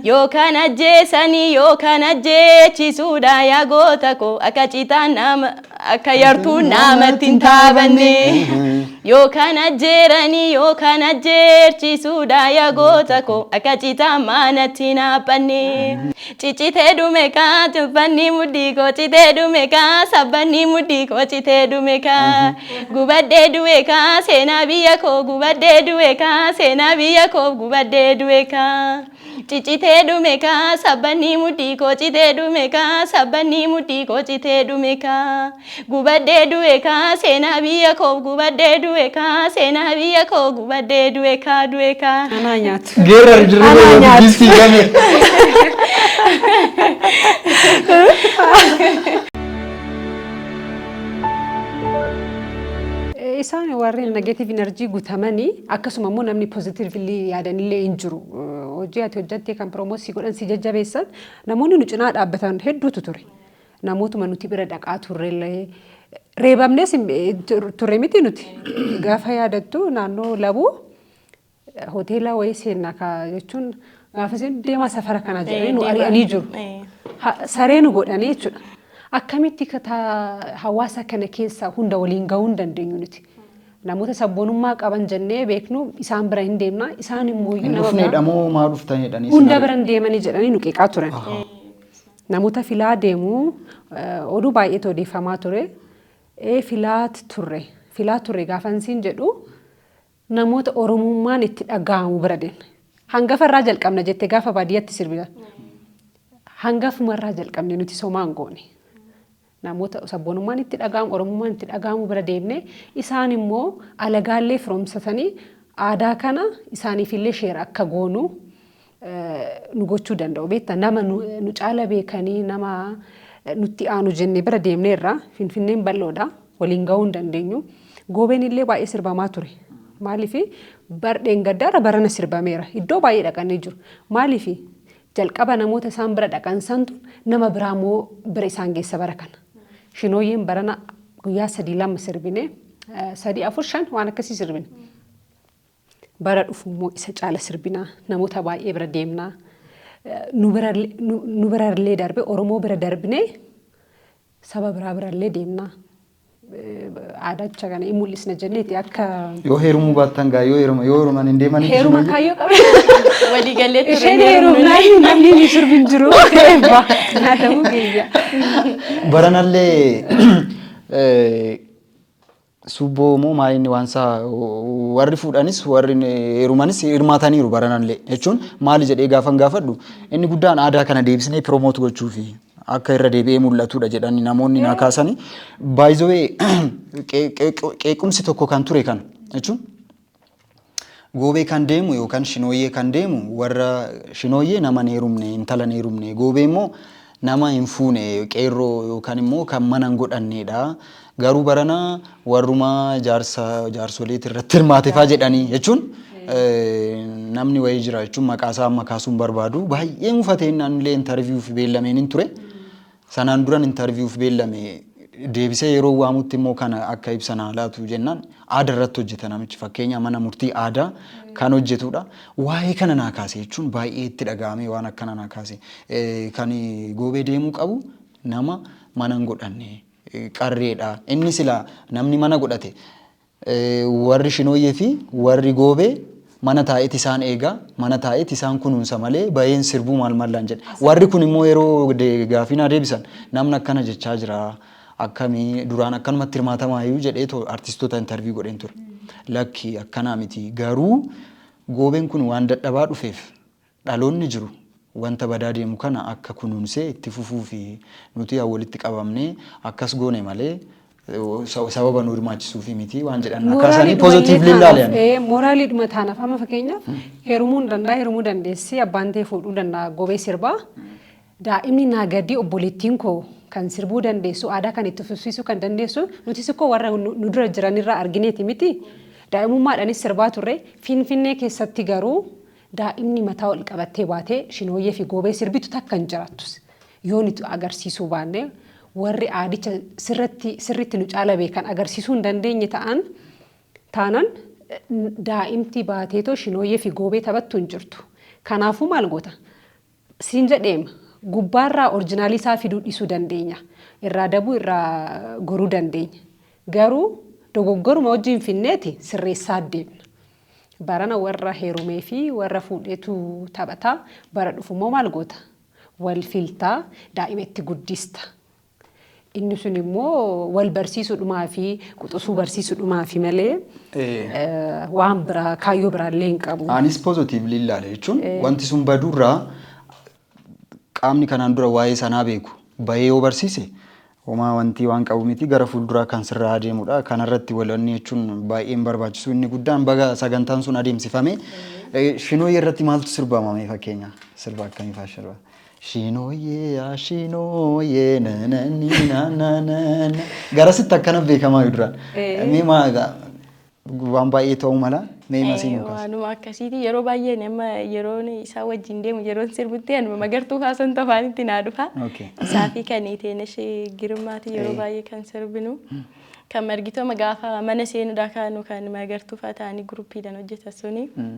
Yookaan ajjeesanii yookaan ajjeechisuudha yaa goota koo akka citaan nama akka yartuun namatti hin taabanne. Yookaan ajjeeranii yookaan ajjeechisuudha yaa goota koo akka citaan manatti hin haaphanne. Ciccitee dhume kaa tuffanni mudhii koo citee dhume kaa sabbanni mudhii koo citee dhume kaa gubadhee du'e kaa seenaa biyya koo gubadhee du'e kaa seenaa biyya koo gubadhee du'e kaa ciccitee dhume kaa sabbanni mudhii koo citee dhume kaa sabbanni mudhii koo citee dhume kaa. Gubadhee du'e kaa seenaa biyya koo gubadhee du'e kaa seenaa biyya koo gubadhee du'e kaa du'e kaa. Anaa nyaatu. Geerrar jirri Anaa godhatu nyaatu. giiftii kame. Eh, Isaan warreen negative energy gutamanii akkasuma immoo namni positively yaadanillee hin jiru. Eh, Hojii ati hojjattee kan promote si godhan si jajjabeessan namoonni nu cinaa dhaabbatan hedduutu ture. Namootuma nuti bira dhaqaa turrellee reebamnees turre miti nuti gaafa yaadattu naannoo labuu hoteela wayii seenna kaa jechuun gaafa seennu deemaa safara kana jedhanii nu ari'anii jiru. Saree nu godhanii jechuudha. Akkamitti hawaasa kana keessa hunda waliin gahuu hin dandeenyu nuti. Namoota sabboonummaa qaban jennee beeknu isaan bira hin deemna isaan immoo nama biraa. Hin dhufneedha moo maa dhuftanidha? Hunda bira hin deemanii jedhanii nu qeeqaa turan. Namoota filaa deemu oduu baay'eetu odeeffamaa ture. Ee filaat turre. Filaa turre gaafan siin jedhu namoota Oromummaan itti dhaga'amu bira deemne. Hangafa irraa jalqabna jette gaafa baadiyyatti sirbita. Hangafumarraa jalqabne nuti somaan goone. Namoota sabboonummaan itti dhaga'amu, Oromummaan itti dhaga'amu bira deemnee isaan immoo alagaa illee firoomsatanii aadaa kana isaaniif illee share akka goonu nu gochuu danda'u. Beektaa nama nu caala beekanii nama nutti aanu jennee bira deemneerra. Finfinneen bal'oodha. Waliin ga'uu hin dandeenyu. Goobeen illee baay'ee sirbamaa ture. Maaliif bar dheengaddaarra barana sirbameera. Iddoo baay'ee dhaqanii jiru. Maaliif Jalqaba namoota isaan bira dhaqan santu nama biraa immoo bira isaan geessa bara kana. Shinooyyeen barana guyyaa sadii lama sirbine sadii afur shan waan akkasii sirbine. Bara dhufu immoo isa caala sirbinaa namoota baay'ee bira deemnaa nu bira nu birallee darbe Oromoo bira darbinee saba biraa birallee deemnaa. aadacha kana hin mul'isna jenneeti akka Yoo heerumuu baattan gaa yoo heeruma yoo heeruman hin deemanii heeruma isin kaayyoo qabu. Walii galee ture. Isheen heerumnaan namni hin sirbi hin jiru. Eebba. Naa ta'uu keenya. wayyu. Baranallee eh, subboo moo maalinni waan isaa warri fuudhanis warri heerumanis hirmaataniiru baranallee jechuun maali jedhee gaafan gaafadhu inni guddaan aadaa kana deebisnee piroomoot gochuufi. akka irra deebi'ee mul'atudha jedhani namoonni naa kaasani. By the way qe- qe- qeequmsi tokko kan ture kana jechuun goobee kan deemu yookaan shinooyyee kan deemu warra shinooyyee nama hin heerumne intala hin heerumne goobee immoo nama hin fuune qeerroo yookaan immoo kan mana hin godhanneedha. Garuu barana warruma jaarsa jaarsoliiti irratti hirmaatefaa jedhanii jechuun namni wayii jira jechuun maqaa isaa amma kaasuun barbaadu baay'ee mufatee naannilee intarviiyuuf beellameen hin ture. Sanaan duran intarviiyuuf beellame deebisee yeroo waamutti immoo kana akka ibsa naa laatu jennaan aadaa irratti hojjeta namichi fakkeenya mana murtii aadaa kan hojjetudha. Waa'ee kana naa kaase jechuun baay'ee itti dhaga'amee waan akkana naa kaase kan goobee deemuu qabu nama mana hin godhanne qarree dha. Inni silaa namni mana godhate warri Shinooyyee fi warri Goobee mana taa'eet isaan eega, mana taa'eet isaan kunuunsa malee baheen sirbuu maal mallaan jedhe. Warri kun immoo yeroo gaafii naa deebisan namni akkana jechaa jira akkami duraan akkanumatti hirmaatamaayuu jedhee too artistoota interview godheen ture. Lakki akkanaa miti garuu Goobeen kun waan dadhabaa dhufeef Dhaloonni jiru wanta badaa deemu kana akka kunuunsee itti fufuufi. Nuti yaa walitti qabamnee akkas goone malee sababa nu hirmaachisuufi miti waan jedhan akka isaanii positively ilaale ani. Moraaliidhuma taanaaf amma fakkeenyaaf heerumuu hin danda'a heerumuu dandeessi abbaan tee fuudhuu danda'a gobee sirbaa daa'imni naa gadii obboleettiin koo kan sirbuu dandeessu aadaa kan itti fufsiisuu kan dandeessu nutis ikkoo warra nu dura jiranirraa argineeti miti daa'imummaadhaanis sirbaa turre finfinnee keessatti garuu Daa'imni mataa ol qabattee baatee shinooyyee fi goobee sirbitu takka hin jiraattus. Yoo nuti agarsiisuu baanne, warri aadicha sirratti sirriitti nu caala beekan agarsiisuu hin dandeenye ta'an taanan daa'imti baateetoo shinooyyee fi goobee taphattu hin jirtu. Kanaafuu maal goota? siin jedheem gubbaa irraa orjinaalii isaa fiduu dhisuu dandeenya irraa dabuu irraa goruu dandeenya garuu dogoggoruma wajjiin finneeti sirreessaa deemna barana warra heerumee fi warra fuudheetu taphataa bara dhufu immoo maal goota wal filtaa daa'ima itti guddista Inni sun immoo wal barsiisuudhumaa fi quxusuu barsiisuudhumaa fi malee Ee. eh, waan biraa kaayyoo biraallee hin qabu. Anis positively ilaale jechuun wanti sun baduurraa qaamni kanaan dura waa'ee sanaa beeku bahee yoo barsiise homaa wanti waan qabu miti gara fuulduraa kan sirraa adeemudha. Kanarratti walanni jechuun baay'een barbaachisu inni guddaan baga sagantaan sun adeemsifame. Eh, Shinooyee irratti maaltu sirbamame fakkeenya sirba akkamii fa'aa sirba? Shiinooyyee yaa shiinooyyee nananii nananana. Garasitti akkana beekamaa duraan. Ee. Mee maa egaa waan baay'ee ta'uu mala mee masii nu kaasa. Waanuma akkasiiti yeroo baay'ee ani amma yeroon isaa wajjin deemu yeroon sirbutti anuma magartuu kaasan tofaanitti naa dhufa. Okay. Isaa fi kan Iteenesh Girmaati yeroo Eh. baay'ee kan sirbinu. Kan margitooma gaafa mana seenuudhaa kaanu kan magartuu fa'aa ta'anii guruppiidhaan hojjetan suni. Mm.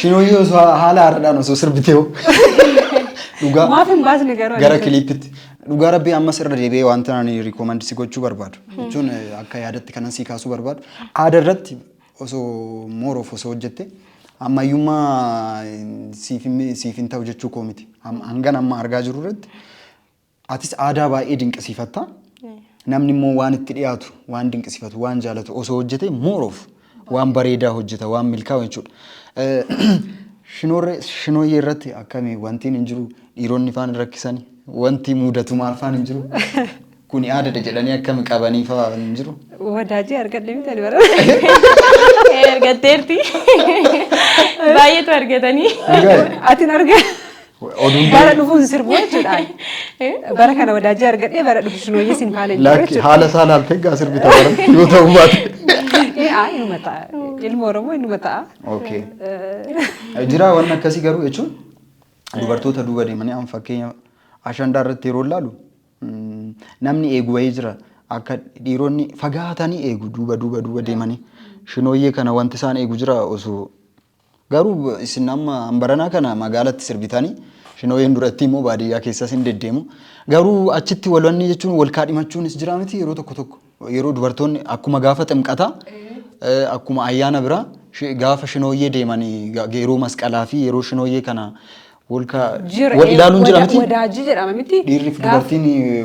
Shinooyyee osoo haala haaraadhaan osoo sirbitee hoo. Dhugaa Maaf hin baasne garuu. gara kiliippitti. Dhugaa rabbii ammas irra deebi'ee wanta ani rikoomandi si gochuu barbaadu. Jechuun eh, akka yaadatti kanan si kaasuu barbaadu. Aadaa irratti osoo mooroof osoo hojjette ammayyummaa eh, siif hin- siif hin ta'u jechuu koo miti. Am- Hangan amma argaa jiru irratti Atis aadaa baay'ee dinqisiifatta. Namni immoo waan itti dhiyaatu, waan dinqisiifatu, waan jaalatu osoo hojjete more of waan bareedaa hojjeta, waan milkaa'u jechuudha. Shinoorree shinooyyee irratti akkami wantiin hin jiru dhiironni faan hin rakkisani wanti mudatu maal faan hin jiru kuni aadadha jedhanii akkami qabanii faa hin jiru. Wadaajii argadhe miti ani bara. Ergatteerti. Baay'eetu argatanii. Dhugaa Ati hin argaa. Oduun Bara dhufuu hin sirbu jechuudhaan. Bara kana wadaajii argadhee bara dhufu shinooyyee sin faana hin jiru lakki jechuudha. haala isaa laaltee gaa sirbi ta'uu yoo ta'uu baate. Eh, ah, Inuma ta'a. Ilma Oromoo inuma ta'a. Okay. Jira waan akkasii garuu jechuun dubartoota duuba deemanii amma fakkeenya ashandaa irratti yeroo ilaalu mm, namni eegu wayii jira akka dhiironni fagaatanii eegu duuba duuba duuba deemanii shinooyyee kana wanti isaan eegu jira osoo Garuu isin amma hanbaranaa kana magaalatti sirbitani shinooyeen durattii immoo baadiyyaa keessas hin deddeemu. Garuu achitti walwanni jechuun wal kaadhimachuunis jira miti yeroo tokko tokko. Yeroo dubartoonni akkuma gaafa ximqataa eh, akkuma ayyaana biraa shi- gaafa shinooyyee deemanii ga- yeroo masqalaa fi yeroo shinooyyee kana wal ka- Jira, wal eh, ilaaluun jira wada- miti. wadaajii jedhama miti? Dhiirri fi Gaaf- dubartiin eh,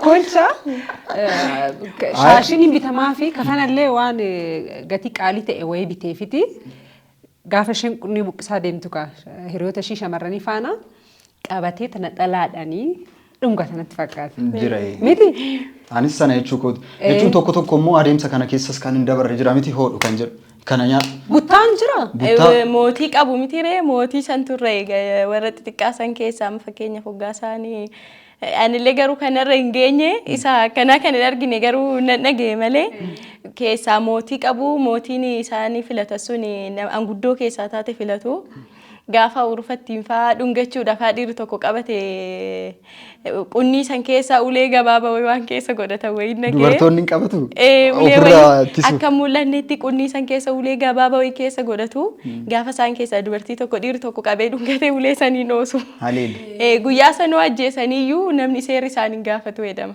Kolcha shaashiin hin bitamaa fi kafanallee waan eh, gatii qaalii ta'e wayii biteefiti gaafa isheen qunnii buqqisaa deemtu kaa hiriyoota ishii shamarranii faana qabatee tana dhalaadhanii Dhungata natti fakkaata. jira. ee. Miti? Anis sana jechuu kooti. Ee. Jechuun tokko tokko immoo adeemsa kana keessas kan hin dabarre jira miti hoodhu kan jedhu. Kana nyaa Buttaan jira. buttaa Eh, Mootii qabu miti ree mootii san turre eh, warra xixiqqaa san keessaa amma fakkeenyaaf hoggaa isaanii eh, anillee garuu kanarra hin geenye isa akkanaa kan hin argine garuu nan dhaga'e malee keessaa mootii qabu mootiin isaanii filatan sun eh, nam- anguddoo keessaa taate filatu Gaafa urufa ittiin fa'aa dhungachuudhaaf haa dhiirri tokko qabate qunnii san keessa ulee gabaaba wayii waan keessa godhatan wayii nagee. Dubartoonni hin qabatu? Ee, ulee Ofirraa wayii ittisu. akka hin mul'annetti qunnii san keessa ulee gabaaba wayii keessa godhatu. Gaafa isaan keessaa dubartii tokko dhiirri tokko qabee dhungatee ulee saniin oosu. Haleelu. Ee, Guyyaa sanuu ajjeesaniyyuu namni seerri isaan hin gaafatu jedhama.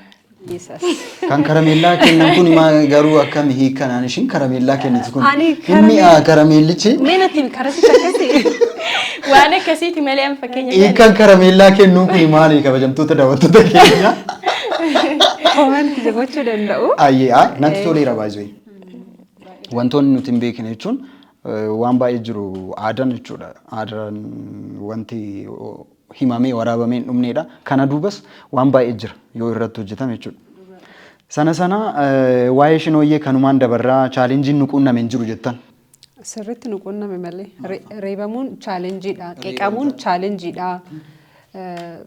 Kan karameellaa kennan kun maa garuu akkam hiikanaan ishiin karameellaa kennitu kun Ani hin karamee- mi'aa karameellichi Mee natti karasitti akkasii waan akkasiiti malee an fakkeenya hiikan karameellaa kennuu kun maali kabajamtoota daawwattoota keenya komanti gochuu danda'u. ayyee aa natti toleera baay'ee wantoonni nuti hin beekne jechuun eh, waan baay'ee jiru aadaan jechuudha aadaan wanti o- himamee waraabamee hin dhumneedha. Kana duubas waan baay'ee jira yoo irratti hojjetame jechuudha. Sana sana eh, waa'ee shinooyyee kanumaan dabarraa chaalenjiin nu quunname hin jiru jettan. Sirriitti nu quunname malee Re- reebamuun chaalenjiidha. Qeeqamuun chaalenjiidha. Eh,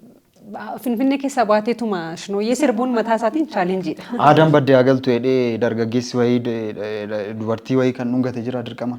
ba- Finfinnee keessaa baateetuma shinooyyee sirbuun mataa isaatiin chaalenjiidha. Aadaan baddee haa galtu jedhee dargaggeessi wayii de- de- de- dubartii wayii kan dhungate jira dirqama.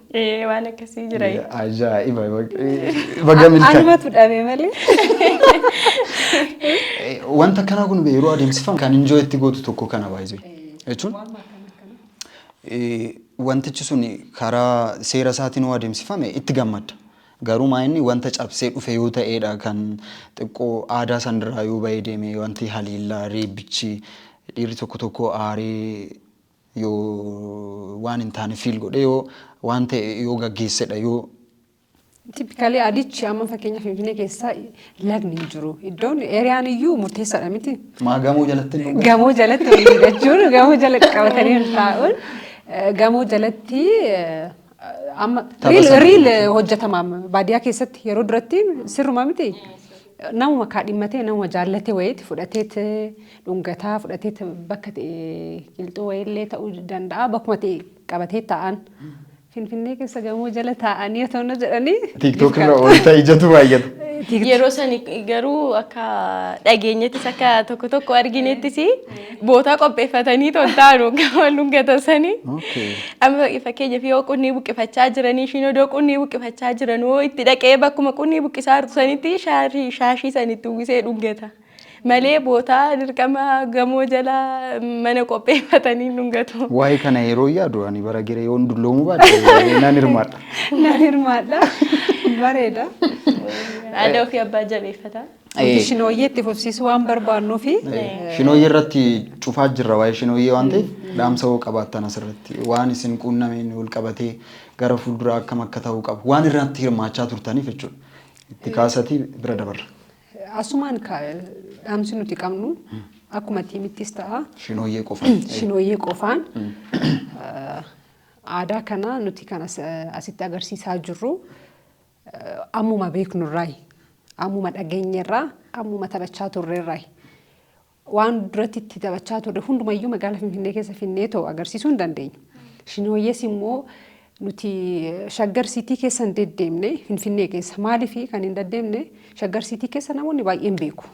Ee waan akkasii jira. Ajaa'iba. Baga milkaa'e. Anumatu dhabe malee. Wanta akkanaa kun yeroo adeemsifamu kan injoo itti gootu tokko kana baay'ee jechuun wantichi sun karaa seera isaatiin yoo adeemsifame itti gammadda. Garuu maayinni wanta cabsee dhufe yoo ta'edha kan xiqqoo aadaa sanarraa yoo ba'ee deeme wanti haleellaa reebbichi dhiirri tokko tokko aaree yoo waan hin taane feel godhe yoo waan ta'e yoo gaggeessedha yoo Tippikaalii adichi amma fakkeenya Finfinnee keessa lagni hin jiru. Iddoon eeriyaan iyyuu murteessaadha miti. maa gamoo jalatti hin Gamoo jalatti waliin jechuun gamoo jalatti qabatanii taa'uun eh, gamoo jalatti eh, Amma Tapha riil sana riil jechuudha. hojjetama baadiyyaa keessatti yeroo duratti sirruma miti. Namuma kaadhimmatee namuma jaallatee wayiiti fudhateet dhungataa fudhateet bakka ta'e qilxuu wayiillee ta'uu danda'a bakkuma ta'e qabatee taa'an. Finfinnee keessa gamoo jala taa'anii otoo na jedhanii. Tiiktook irra oolta ijatu baay'ata. Yeroo sani garuu akka dhageenyettis akka tokko tokko arginettis bootaa qopheeffatanii toltaanu gama lungata sanii. Okay. Amma fakkeenyaaf yoo qunnii buqqifachaa jiranii ishiin odoo qunnii buqqifachaa jiran hoo itti dhaqee bakkuma qunnii buqqisaa jirtu sanitti shaarii shaashii sanitti uwwisee dhungata. Malee bootaa dirqama gamoo jala mana qopheeffatanii dhungatu. Waa'ee kana yeroo yaadu ani bara gere yoon dulloomuu baadhe nan hirmaadha. Nan hirmaadha. Bareeda. Aadaa ofii abbaa jabeeffata. Nuti shinooyyee itti fufsiisuu waan barbaannuufi. Shinooyyee irratti cufaa jirra waa'ee shinooyyee waan ta'eef dhaamsa hoo qabaattan asirratti waan isin quunnameen wal qabatee gara fuulduraa akkam akka ta'uu qabu waan irratti hirmaachaa turtaniif jechuudha. Itti kaasatii bira dabarra. Asumaan ka- dhaamsi nuti qabnu akkuma tiimittis ta'a Shinooyyee qofa. shinooyyee qofaan eh, aadaa kana nuti kan as- asitti agarsiisaa jirru Ammuma beeknu irraayi. Ammuma dhageenye irraa, ammuma taphachaa turre irraayi. Waan duratti itti taphachaa turre hundumayyuu magaalaa Finfinnee keessa finnee too agarsiisuu hin dandeenyu. Shinooyyees immoo nuti shaggar siitii keessa hin deddeemne Finfinnee keessa. Maaliif kan hin deddeemne shaggar siitii keessa namoonni baay'een beeku.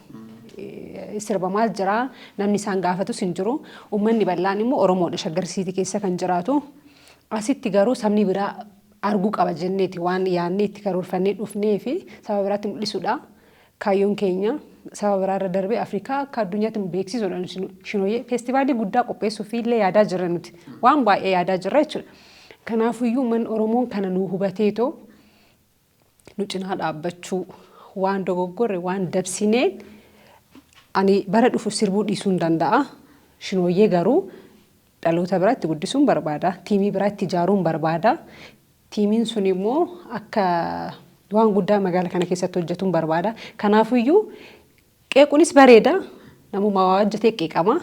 Sirba maal jiraa namni isaan gaafatus hin jiru. Uummanni bal'aan immoo Oromoodha shaggar siitii keessa kan jiraatu. Asitti garuu sabni biraa argu qaba jenneeti waan yaadnee itti karoorfannee dhufnee fi saba biraatti mul'isuudha. Kaayyoon keenya saba biraarra darbee Afrikaa akka addunyaatti nu beeksisuudha nuti nu- shinooyyee. Feestivaalii guddaa qopheessuuf illee yaadaa jirra nuti. Waan baay'ee yaadaa jirra jechuudha. Kanaafuyyuu uummanni Oromoon kana nu hubateetoo nu cinaa dhaabbachuu waan dogoggorre waan dabsinee ani bara dhufu sirbuu dhiisuun danda'a. Shinooyyee garuu Dhaloota biraa itti guddisuun barbaada. Tiimii biraa itti ijaaruun barbaada. Tiimiin sun immoo akka waan guddaa magaala kana keessatti hojjetuun barbaada. Kanaafuyyuu qeequnis bareeda. Namuma waa hojjetee qeeqama.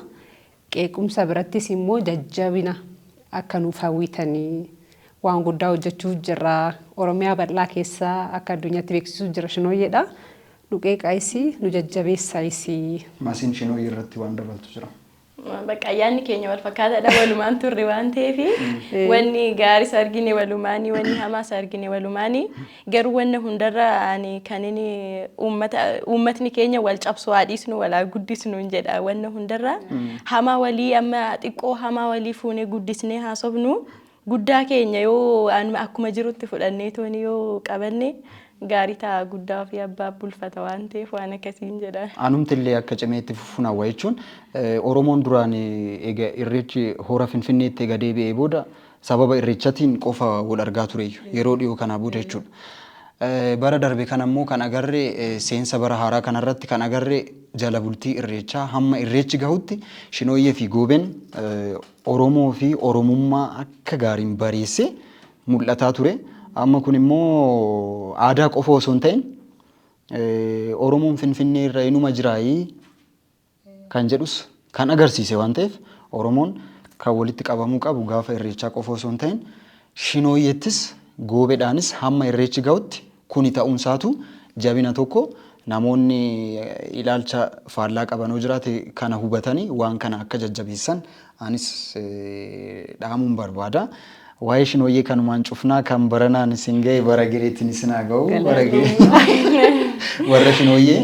Qeequmsa birattis immoo jajjabina akka nuuf hawwitanii waan guddaa hojjechuuf jirra. Oromiyaa bal'aa keessa akka addunyaatti beeksisuuf jirra shinooyyeedha. Nu qeeqaayisi, nu jajjabeessaayisi. Masiin shinooyyee irratti waan dabaltu jira. Bakka ayyaanni keenya wal fakkaataadha walumaan turre waan ta'eef wanni gaaris argine walumaanii wanni hamaas argine walumaanii garuu wanna hundarra ani kan inni uummata uummatni keenya wal cabsu haa dhiisnu wal haa guddisnu hin jedha wanna hundarra hamaa walii amma xiqqoo hamaa walii fuunee guddisnee haasofnu Guddaa keenya yoo anuma akkuma jirutti fudhannee tooni yoo qabanne gaarii ta'a guddaa ofii abbaaf bulfata waan ta'eef waan akkasiin jedha. Anumti illee akka cimee itti fufuun hawwa jechuun Oromoon duraan eega Irreechi Hora Finfinneetti eega deebi'ee booda sababa Irreechatiin qofa wal argaa tureeyyu yeroo dhiyoo kanaa booda jechuudha. Bara darbe kana immoo kan agarre seensa bara haaraa kana irratti kan agarre jala bultii Irreechaa hamma Irreechi gahutti Shinooyyee fi Gooben Oromoo fi Oromummaa akka gaariin bareessee mul'ataa ture. Amma kun immoo aadaa qofa osoo hin ta'in Oromoon Finfinnee irra inuma jiraayii kan jedhus kan agarsiise waan ta'eef Oromoon kan walitti qabamuu qabu gaafa Irreechaa qofa osoo hin ta'in Shinooyyettis Goobedhaanis hamma Irreechi gahutti Kuni ta'uunsaatu jabina tokko namoonni ilaalcha faallaa qaban yoo jiraate kana hubatanii waan kana akka jajjabeessan anis dhaamuun barbaada. Waa'ee Shinooyyee kanumaan cufnaa kan baranaan isin ga'e bara gireetiin isin haa ga'u. Bara giree Galatoomii. warra Shinooyyee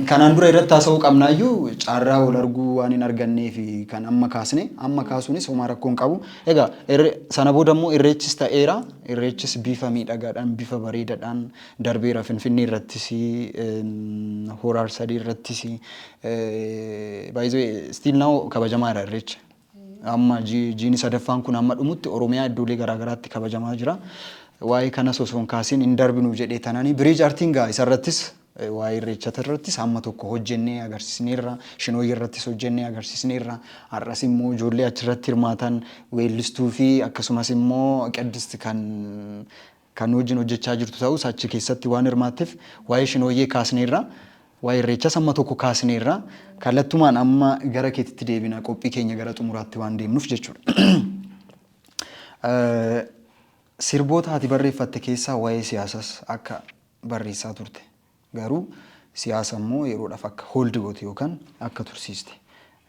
kanaan dura irratti haasa'uu qabnaayyuu carraa wal arguu waan hin arganneef kan amma kaasne amma kaasuunis homaa rakkoo hin qabu. Egaa irre- sana booda immoo irreechis ta'eera. Irreechis bifa miidhagaadhaan, bifa bareedaadhaan darbeera. Finfinnee irrattis, em, Hora Arsadee irrattis. eh, By the way, still now kabajamaa jira irreechi. Amma ji- jiini sadaffaan kun amma dhumutti Oromiyaa iddoolee garaa garaatti kabajamaa jira. Waa'ee kanas osoo hin kaasin hin darbinu jedhee tanani. Biriij Artiin gaa isarrattis Waa'ee Irreechata irrattis hamma tokko hojjennee agarsiisneerra. Shinooyyee irrattis hojjennee agarsiisneerra. Har'as immoo ijoollee achirratti hirmaatan weellistuu fi akkasumas immoo Qiddist kan kan nu wajjin hojjechaa jirtu ta'us achi keessatti waan hirmaatteef waa'ee Shinooyyee kaasneerra. Waa'ee Irreechas hamma tokko kaasneerra. Kallattumaan amma gara keetitti deebina qophii keenya gara xumuraatti waan deemnuuf jechuudha. Sirboota ati barreeffatte keessaa waa'ee siyaasas akka barreessaa turte. Garuu siyaasa immoo yeroodhaaf akka hold goote yookaan akka tursiiste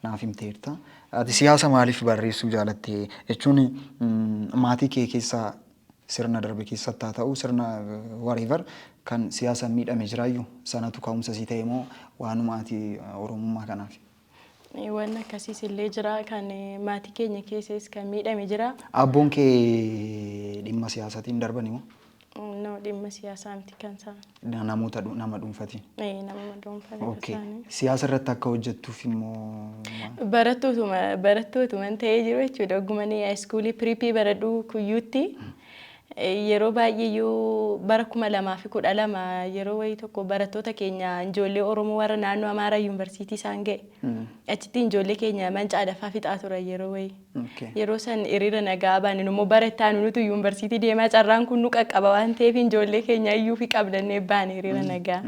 naaf himteerta. Ati siyaasa maaliif barreessuu jaalatte? Jechuun maatii kee keessaa sirna darbe keessatti haa ta'u sirna whatever kan siyaasaan miidhame jiraayyuu? Sanatu ka'umsa sii ta'e moo waanuma ati Oromummaa kanaaf Waan akkasiis illee jira kan maatii keenya keessas kan miidhame jira. Aabboon kee dhimma siyaasatiin darbani moo? No dhimma siyaasaa miti kan isaa. Namoota dhu- nama dhuunfatiin. Eh, Nama dhuunfaa kan Okay. isaanii. Siyaasa irratti akka hojjettuuf immoo maal? Barattootuma barattootuma ta'ee jiru jechuudha. Ogguma inni iskuulii piriipii baradhu kuyyuutti Yeroo baay'eeyyuu bara 2012 yeroo wayii tokko barattoota keenya ijoollee Oromoo warra naannoo Amaaraa yuunivarsiitii isaan ga'e. Achitti ijoollee keenya mancaadhaffaa fixaa turan yeroo wayii. Yeroo san hiriira nagaa baane immoo bara itti aanu nutu yuunivarsiitii deemaa carraan kun nu qaqqaba waan ta'eef ijoollee keenya iyyuu fi qabdannee baane hiriira nagaa.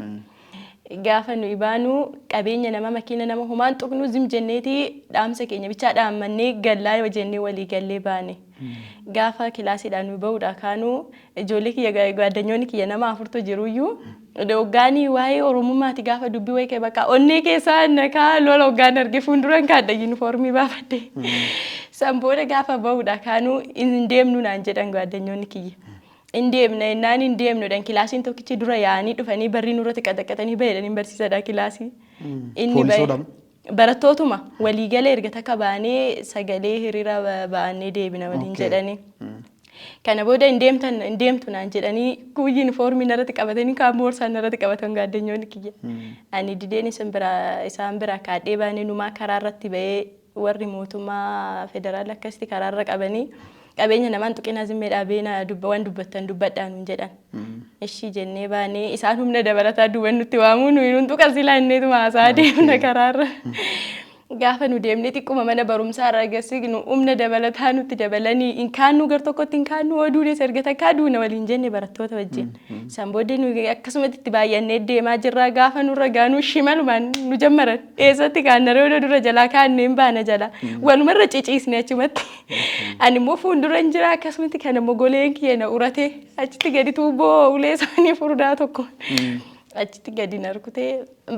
Gaafa nuyi baanu qabeenya nama makiina nama homaan tuqnu zim jenneeti dhaamsa keenya bichaa dhaammannee gallaa yoo jennee walii gallee baane. Gaafa kilaasiidhaan nuyi ba'uudhaa kaanu ijoollee kiyya ga- gaaddanyoonni kiyya nama afurtu jiruyyuu hoggaanii waa'ee oromummaati gaafa dubbii wayii ka'e bakka onnee keessaa nakaa lola hoggaan arge fuulduran kaadha yuunifoormii baafadhe. San booda gaafa ba'uudhaa kaanu hin deemnu naan jedhan gaaddanyoonni kiyya. In deemna jennaan hin deemnu jedhan kilaasiin tokkichi dura yaa'anii dhufanii barrii nurratti qaxaqqaxanii bahe jedhaniin barsiisadha kilaasii. Inni bahe Poolisoodhaan. barattootuma waliigala erga takka baanee sagalee hiriira ba- ba'annee deebina waliin Okay. jedhanii. Kana booda hin deemtan hin deemtu naan jedhanii kuun yuunifoormii narratti qabatanii kaan boorsaa narratti qabatan gaaddenyoonni kiyya. Ani dideen isin biraa isaan biraa kaadhee baanee numaa karaa irratti ba'ee Warri mootummaa federaalaa akkasitti karaarra qabanii qabeenya namaan tuqinaa zimmee dhaabeena dubba waan dubbattan dubbadhaa nuun jedhan. Ishii jennee baanee isaan humna dabalataa duuban nutti waamuu nuyi nuun tuqan silaa inneetuma haasaa deemna karaarra. Gaafa nu deemnee xiqquma mana barumsaa irraa gassi nu humna dabalataa nutti dabalanii hin kaannuu gar tokkotti hin kaannuu oo duunes erga takkaa duuna waliin jenne barattoota wajjin. Isaan booddee nu akkasumatti itti baay'annee deemaa jirra gaafa nurra gaanuu shimalumaan nu jammaran. Eessatti kaanna reedo dura jalaa kaannu hin baana jala. Waluma irra ciciisne achumatti. Ani immoo fuuldura hin jira akkasumatti kan immoo goleen kiyya na uratee achitti gadi tuubboo ulee isaanii furdaa tokko. Achitti gadi na rukutee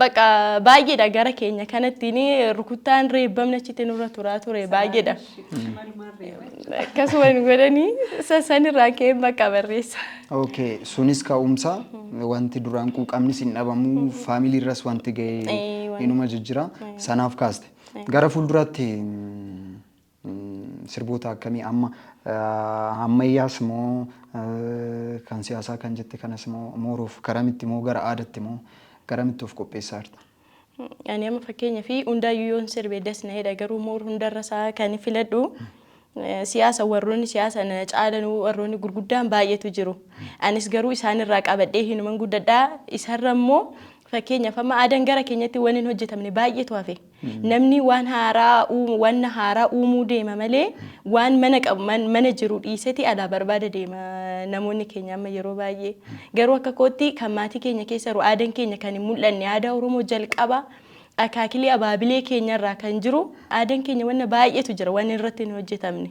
bakka baay'eedha gara keenya kanatti ni rukuttaan reebbamni achitti nurra turaa ture baay'eedha. Akkasuma nu godhanii isa sanirraa ka'ee maqaa barreessa. Okay, sunis ka'umsa wanti duraan quuqamnis hin dhabamu faamilii irras wanti ga'e Eh, wanti- inuma jijjira sanaaf kaaste. Gara fuulduraatti mm, sirboota akkamii amma ah, ammayyaas moo ah, kan siyaasaa kan jette kanas moo mooruuf karamitti moo gara aadatti moo garamitti of qopheessaa jirta? Ani amma fakkeenya fi hundaayyuu yoon sirbe das na jedha garuu moor hundarra isaa kan filadhu eh, siyaasa warroonni siyaasa na caalan warroonni gurguddaan baay'eetu jiru. Anis garuu isaanirraa qabadhee hinuman guddadhaa isarra immoo fakkeenyaaf amma aadaan gara keenyatti waan hin hojjetamne baay'eetu hafe. Namni waan haaraa uumu waan haaraa uumuu deema malee waan mana qabu man- mana jiru dhiiseti alaa barbaada deema namoonni keenya amma yeroo baay'ee. Garuu akka kootti kan maatii keenya keessa jiru aadan keenya kan hin mul'anne aadaa Oromoo jalqaba akaakilee abaabilee keenya irraa kan jiru aadan keenya wanna baay'eetu jira wanni irratti hin hojjetamne.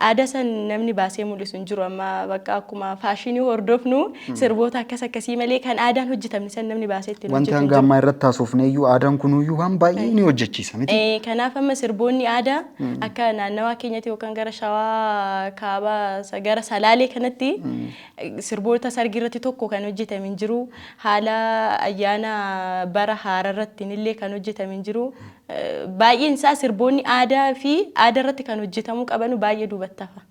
Aadaa san namni baasee mul'isu hin jiru amma bakka akkuma faashinii hordofnu sirboota akkas akkasii malee kan aadaan hojjetamne san namni baasee ittiin Wanti hojjetu hin hanga jiru. ammaa irratti haasofne iyyuu aadaan kunuyyuu waan baay'ee ni hojjechiisa miti. Eh, Kanaaf amma sirboonni aadaa akka naannawaa keenyatti yookaan gara shawaa kaabaa sa- gara salaalee kanatti Sirboota sargii irratti tokko kan hojjetame hin jiru. Haala ayyaana bara haaraa irrattiin illee kan hojjetame hin jiru. Baay'een isaa sirboonni aadaa fi aadaa irratti kan hojjetamuu qabanu baay'ee duubatti hafa.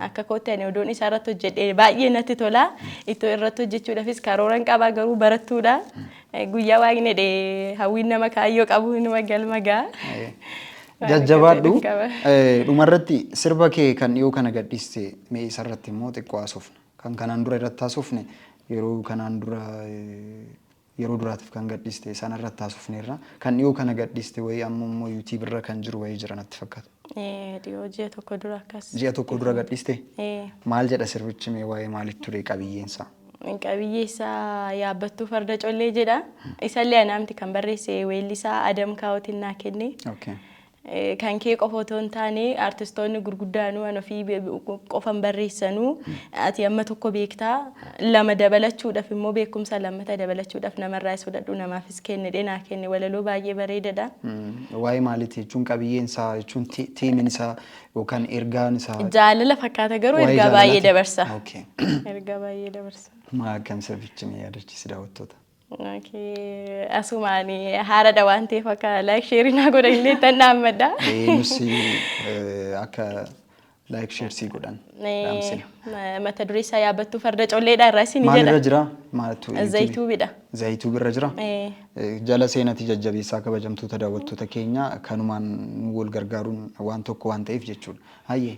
Akka kootti ani odoon isaa irratti hojjedhe baay'ee natti tola. Ittoo irratti hojjechuudhaafis karooran qaba garuu barattuudha. Guyyaa waaqni jedhe hawwiin nama kaayyoo qabu inuma galma ga'a. Jajjabaadhu. Dhumarratti sirba kee kan dhiyoo kana gadhiiste mee isarratti immoo xiqqoo haasofna. Kan kanaan dura irratti haasofne yeroo kanaan dura yeroo duraatiif kan gadhiiste sanarratti haasofneerra. Kan dhiyoo kana gadhiiste wayii amma immoo yuutiibii irra kan jiru wayii jira natti fakkaata. Ee, dhiyoo ji'a tokko dura akkas. Ji'a tokko dura gadhiiste? Ee, Maal jedha sirbichi mee waa'ee maalitti ture qabiyyeen isaa? qabiyyee isaa yaabbattuu farda collee jedha. Isallee anaamti kan barreesse weellisaa Adam Kaawootiin naa kenne. Okay. Eh, kan kee qofa otoo hin taane artistoonni gurguddaanuu an ofii be- qofan barreessanuu ati amma tokko beektaa lama dabalachuudhaf immoo beekumsa lammata dabalachuudhaf namarraa is fudhadhu namaafis kennidhe naa kenne walaloo baay'ee bareedadha. Waa'ee maaliiti jechuun qabiyyeen isaa jechuun ti- tiimin isaa yookaan ergaan isaa Jaalala fakkaata garuu Waa'ee ergaa baay'ee jaalalaati. dabarsa. Okay. Ergaa baay'ee dabarsa. Maa akkam sabichi mee yaadachiisi daawwattoota. Asuma ani haaradha waan ta'eef akka laayik sheerii naa godhan illee tan dhaammadha. Nusi akka laayik sheersii godhan dhaamsina. Mata duree isaa yaabattuu farda colleedha irraa isin Maal irra jira? Maaltu Zayituubidha. Zayituub irra jira. Jala seenati jajjabeessaa kabajamtoota daawwattoota keenya kanumaan nu wal gargaaruun waan tokko waan ta'eef jechuudha. Hayyee.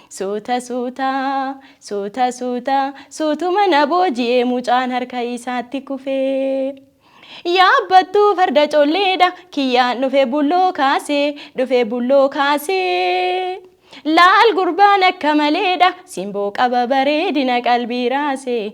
Suuta suuta, suuta suuta, suutuma na booji'e mucaan harka isaatti kufe. Yaabbattuu farda colleedha kiyyaan dhufe bulloo kaase, dhufe bulloo kaase. Laal gurbaan akka maleedha simboo qaba bareedina qalbii raase,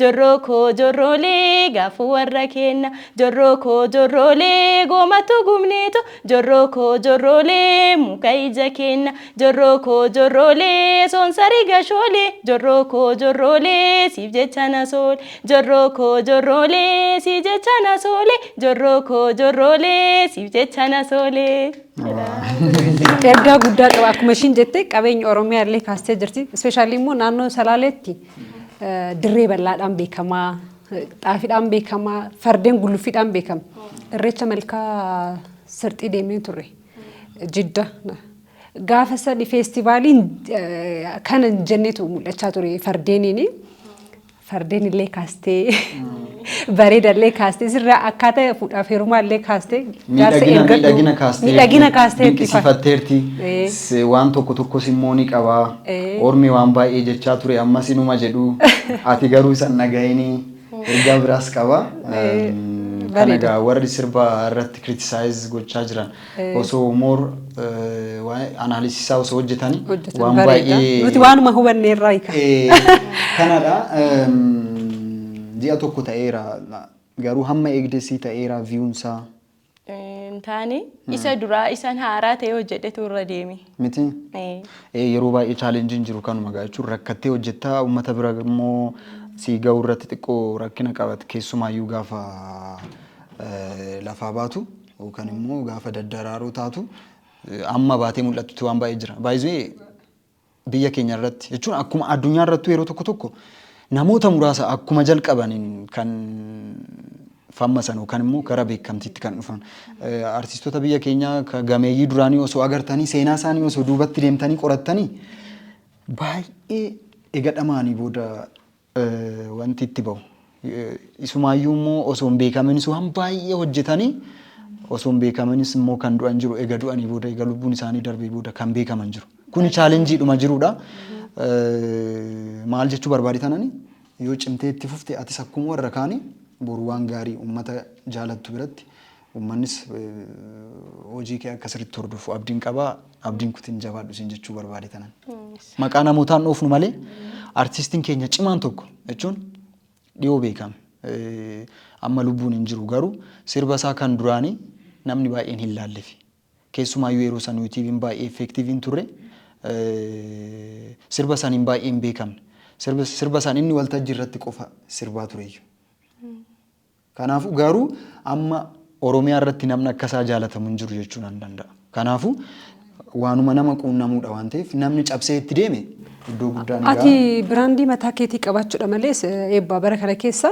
Jorroo koo jorroolee gaafuu warra keenna Jorroo koo jorroolee goomattuu gubneeto Jorroo koo jorroolee muka ija keenna Jorroo koo jorroolee soonsarii gashoolee Jorroo koo jorroolee siif jecha na soole Jorroo koo jorroolee sii jecha na soole Jorroo koo jorroolee siif jecha na soole. Ergaa guddaa qaba akkuma ishiin jette qabeenya Oromiyaa illee kaastee jirti. Ispeeshaalii immoo naannoo Salaaleetti Dirree bal'aadhaan beekama, xaafiidhaan beekama, fardeen gulluffiidhaan beekama. Irreecha malkaa sirxii deemnee turre. Jidda. Gaafa sadi feestivaaliin kana hin jennetu mul'achaa ture fardeeniin. Fardeen illee kaastee. Bareedallee kaastee sirraa akkaataa fuudhaaf heerumaallee kaastee jaarsa Miidhagina eeggadhu. miidhagina kaasteerti. Miidhagina kaasteerti. Dinqisiifatteerti. Ee. Se- Waan tokko tokkos immoo ni qaba. Ee. Ormi waan baay'ee jechaa ture ammas inuma jedhu. Ati garuu isan dhaga'ini ergaa biraas qaba. Ee, Kana bareeda. egaa warri sirba irratti criticize gochaa jiran osoo more analysis isaa osoo hojjetani Hojjetan waan bareeda. baay'ee Nuti waanuma hubanne irraa hiika. Eh, kanadha Ehm, ji'a tokko ta'eera garuu hamma eegdessi ta'eera viyuunsaa Hin taane isa duraa isan haaraa ta'ee hojjedhetu irra deeme. miti Eh, Eh, yeroo baay'ee chaalenjiin jiru kanuma gaa jechuun rakkattee hojjettaa uummata bira immoo sii ga'uu irratti xiqqoo rakkina qabat keessumaayyuu gaafa eh, lafaa baatu Yookan immoo gaafa daddaraaroo taatu amma baatee mul'attutti waan baay'ee jira. Baay'ee biyya keenya irratti jechuun akkuma addunyaa irrattuu yeroo tokko tokko namoota muraasa akkuma jalqabaniin kan fammasan yookaan immoo gara beekamtiitti kan dhufan. Artistoota biyya keenyaa ka gameeyyii duraanii osoo agartanii seenaa isaanii osoo duubatti deemtanii qorattanii baay'ee eega dhamaanii booda wanti itti bahu. Isumaayyuu immoo osoo hin beekaminis waan baay'ee hojjetanii osoo hin beekaminis immoo kan du'an jiru. Ega du'anii booda, ega lubbuun isaanii darbee booda kan beekaman jiru. Kuni chaalenjiidhuma jirudha. Maal jechuu barbaade tanani yoo cimtee itti fufte atis akkuma warra kaanii boru waan gaarii uummata jaalattu biratti Ummannis hojii kee akka sirriitti hordofu abdiin qaba. Abdiin kutin jabaadhu siin jechuu barbaade kanan. Maqaa namootaan dhoofnu malee artistiin keenya cimaan tokko jechuun dhiyoo beekame. Eh, Amma lubbuun hin jiru garuu sirba isaa kan duraanii namni baay'een hin laallefi. Keessumaayyuu yeroo san yuutiibiin baay'ee effeektiivii hin turre. Eh, Sirba saniin baay'ee hin beekamne. Sirba sirba san inni waltajjii irratti qofa sirbaa tureyyuu. Kanaafuu garuu amma Oromiyaa irratti namni akka isaa jaalatamu hin jiru jechuu nan danda'a. Kanaafuu waanuma nama quunnamuudha waan ta'eef namni cabsee itti deeme iddoo guddaa ni Ati ga'a. biraandii mataa keetii qabaachuudha malees eh, eebbaa bara kana keessa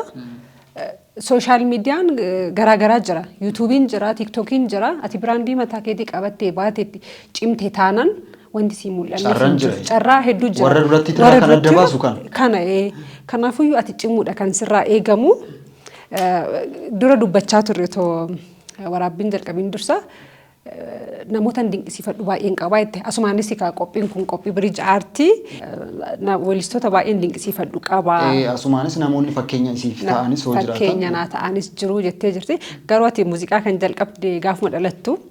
sooshaal miidiyaan eh, garaagaraa jira. Yuutuubiin jira, tiiktookiin jira. Ati biraandii mataa keetii qabattee baatetti cimte taanaan wanti sii mul'anne Carraan hin jiru. jira. Carraa hedduu jira. Warra duratti irraa Warra kan adda duratti baasu kana. Kana ee. Kanaafiyyuu ati cimuudha kan sirraa eegamu. Eh, Dura dubbachaa turre otoo eh, waraabbiin jalqabiin dursa eh, namootan dinqisiifadhu baay'een qabaa jette. Asumaanis egaa qophiin kun qophii biriij aartii eh, na- weellistoota baay'een dinqisiifadhu qabaa. Eh, Asumaanis namoonni fakkeenya isiif Na- ta'anis hoo jiraatan. fakkeenya naa ta'anis jiru jettee jirti. Garuu ati muuziqaa kan jalqabde gaafuma dhalattu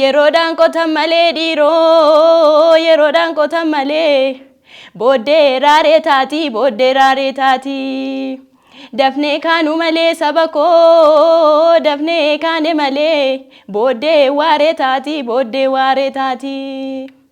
Yeroodhaan qotan malee dhiiroo yeroodhaan qotan malee booddee raaree taatii booddee raaree taatii dafnee kaanu malee saba koo dafnee kaane malee booddee waaree taatii booddee waaree taatii.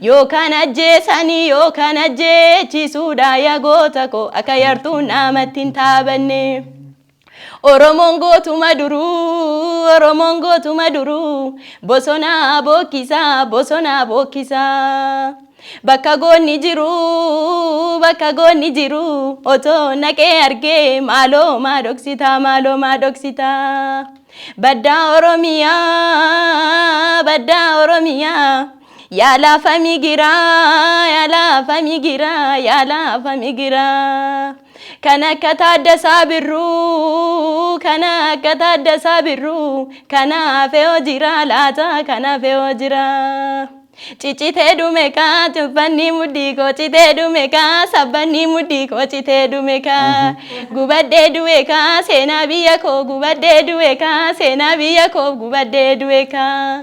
Yoo kan ajjeesani yoo kan ajjeechisuudha ya goota koo akka yartuun naamatti hin taabanne. Oromoon gootuma duruu Oromoon gootuma duruu bosonaa bookkisaa bosonaa bookkisaa. Bakka goonni jiru bakka goonni jiru otoo naqee argee maaloo maa dhoksitaa maaloo maa dhoksitaa. Baddaa Oromiyaa baddaa Oromiyaa. Yaa lafa migiraa, yaa lafa migiraa, yaa lafa migiraa. Kan akka Taaddasaa Birruu, kan akka Taaddasaa Birruu, kan hafe hoo jiraa laata, kan hafe hoo jiraa. Ciccitee dhume kaa tuffanni mudhii koo citee dhume kaa sabbanni mudhii koo citee dhume kaa gubadhee du'e kaa seenaa biyya koo gubadhee du'e kaa seenaa biyya koo gubadhee du'e kaa.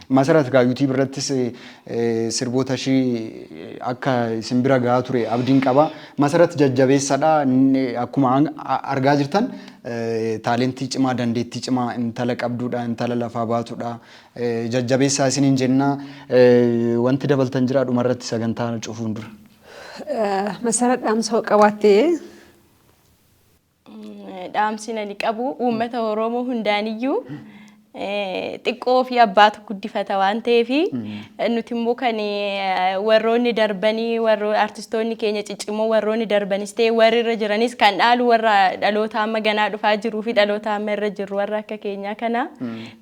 Masarat egaa YouTube irrattis sirboota ishii akka isin bira gahaa ture abdiin qaba. Masarat jajjabeessadha. Akkuma argaa jirtan taalentii cimaa dandeettii cimaa intala qabduudha intala lafaa baatudha. Jajjabeessaa isiniin jenna. Wanti dabaltan jira dhumarratti sagantaa cufuun dura. Masarat dhaamsa hoo qabaattee? Dhaamsiin ani qabu uummata Oromoo hundaaniyyuu xiqqoo fi abbaatu guddifata waan ta'eef nuti immoo kan warroonni darbanii warro artistoonni keenya ciccimoo warroonni darbanis ta'e warri irra jiranis kan dhaalu warra dhaloota amma ganaa dhufaa jiruu fi dhaloota amma irra jirru warra akka keenyaa kana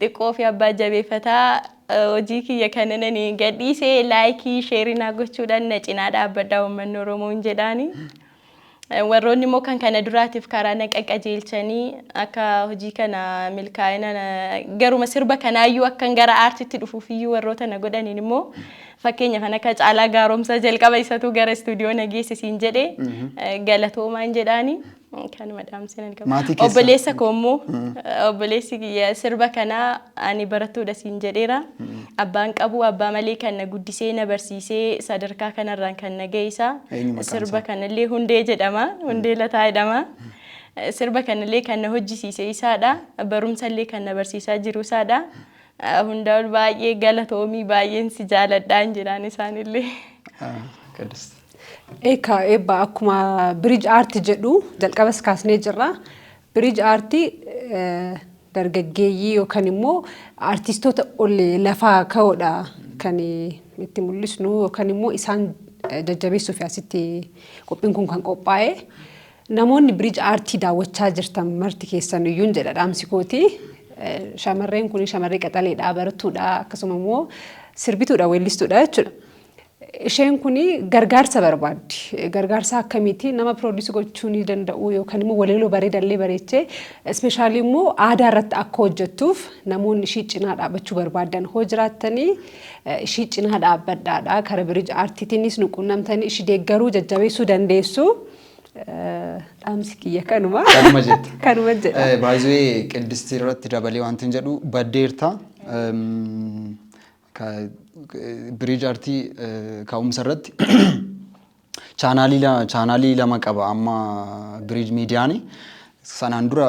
xiqqoo fi abbaa jabeeffataa hojii kiyya kana nani gadhiisee laayikii sheerinaa gochuudhaan na cinaa dhaabbadhaa uummanni Oromoo hin jedhaani. Warroonni immoo kan kana duraatiif karaa na qaqqajeelchanii akka hojii kana milkaa'ina garuma sirba kanaayyuu akkan gara aartitti dhufuufiyyuu warroota na godhaniin immoo fakkeenya kan akka caalaa gaaromsaa jalqaba isatuu gara istuudiyoo na geessisiin jedhe galatoomaan jedhaanii kanuma dhaamsinan qaba. Obboleessa koo immoo obboleessi kiyya sirba kanaa ani barattuudha siin jedheera. Abbaan qabu abbaa malee kan na guddisee na barsiisee sadarkaa kanarraan kan na ga'e isa. Eenyu maqaan Sirba isaa? kanallee Hundee jedhama. Hundee Lataa jedhama. Eh, Sirba kanallee kan na hojjisiise isaadha. Barumsallee kan na barsiisaa jiru isaadha. Eh, Hundaa ol baay'ee galatoomii baay'een si jaaladhaan jedhaan isaanillee. Ah, Qidist. Eekaa eebba akkuma biriij aarti jedhu jalqabas kaasnee jirra. Biriij aartii dargaggeeyyii yookan immoo aartistoota ol lafaa ka'oodha kan itti mul'isnu yookan immoo isaan jajjabeessuuf asitti qophiin kun kan qophaa'e. Namoonni biriij aartii daawwachaa jirtan marti keessan iyyuu jedha dhaamsi kooti. Shamarreen kun shamarree qaxaleedha, barattuudha, akkasuma immoo sirbituudha, weellistuudha jechuudha. Isheen kun gargaarsa barbaaddi. Gargaarsa akkamiiti? Nama piroodiisii gochuu ni danda'u yookaan immoo waleeloo bareedallee bareechee ispeeshaalii immoo aadaa irratti akka hojjettuuf namoonni ishii cinaa dhaabachuu barbaaddan hoo jiraattanii ishii cinaa dhaabbadhaadha. Kara birij aartiitiinis nu quunnamtanii ishii deeggaruu jajjabeessuu dandeessu. Dhaamsi kiyya kanuma. Kanuma jetta. Kanuma jedha. Baay'ee qiddistii irratti dabalee wanti hin jedhu baddeerta. ka bridge artii ka'umsa irratti chaanaalii la- chaanaalii lama qaba amma bridge miidiyaani sanaan dura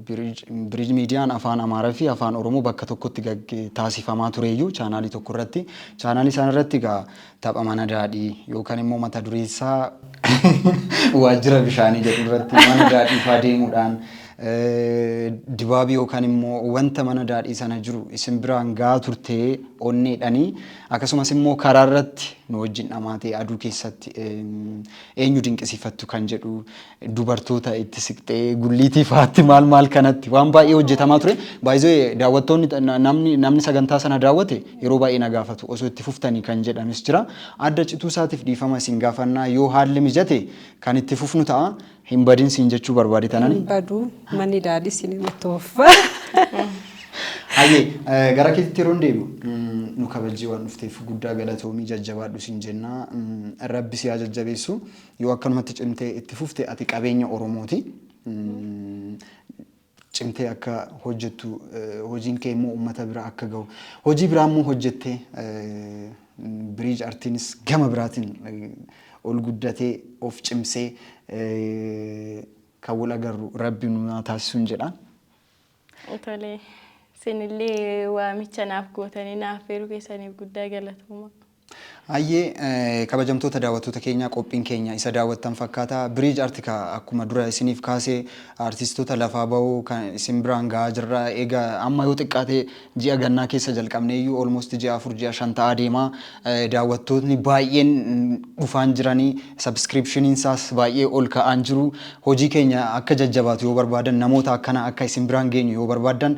bridge bridge miidiyaan afaan amaaraa fi afaan oromoo bakka tokkotti gagge taasifamaa tureeyyuu chaanaalii tokko irratti chaanaalii sana irratti egaa Tapha mana daadhii yookaan immoo mata duree isaa waajjira bishaanii jedhu irratti mana daadhii faa deemuudhaan dibaabii yookaan immoo wanta mana daadhii sana jiru isin biraan gahaa turtee onneedhanii akkasumas immoo karaa irratti nu wajjin dhamaatee aduu keessatti eenyu dinqisiifattu kan jedhu dubartoota itti siqxee gulliitii fa'aatti maal maal kanatti waan baay'ee hojjetamaa ture. Baay'ee daawwattoonni namni namni sagantaa sana daawwate yeroo baay'ee na gaafatu osoo itti fuftanii kan jedhanis jira. Adda cituu isaatiif dhiifama isin gaafannaa yoo haalli mijate kan itti fufnu ta'a. Hin badin siin jechuu barbaade tanani. Hin badu manni daadhi isin itti fuffa. Hayyee gara keetitti yeroo deemu nu kabajjii waan dhufteef guddaa galatoomii jajjabaadhu siin jennaa rabbi si haa jajjabeessu. Yoo akkanumatti cimtee itti fufte ati qabeenya Oromooti. Cimtee akka hojjettu hojiin kee immoo uummata bira akka gahu hojii biraa immoo hojjettee biriij artiinis gama biraatiin ol guddatee of cimsee kan wal agarru rabbi nu haa taasisuun jedha. Tolee. Isinillee waamicha naaf gootanii naaf feeruu keessaniif guddaa galatooma. Hayyee kabajamtoota daawwattoota keenyaa qophiin keenya isa daawwattan fakkaata. Biriij Arti ka akkuma dura isiniif kaase artistoota lafaa bahuu kan isin biraan gahaa jirra. Eega amma yoo xiqqaate ji'a gannaa keessa jalqabneeyyuu almost ji'a afur ji'a shan ta'aa deema. Daawwattootni baay'een dhufaan jirani. Subscription isaas baay'ee ol ka'aan jiru. Hojii keenya akka jajjabaatu yoo barbaadan namoota akkana akka isin biraan geenyu yoo barbaaddan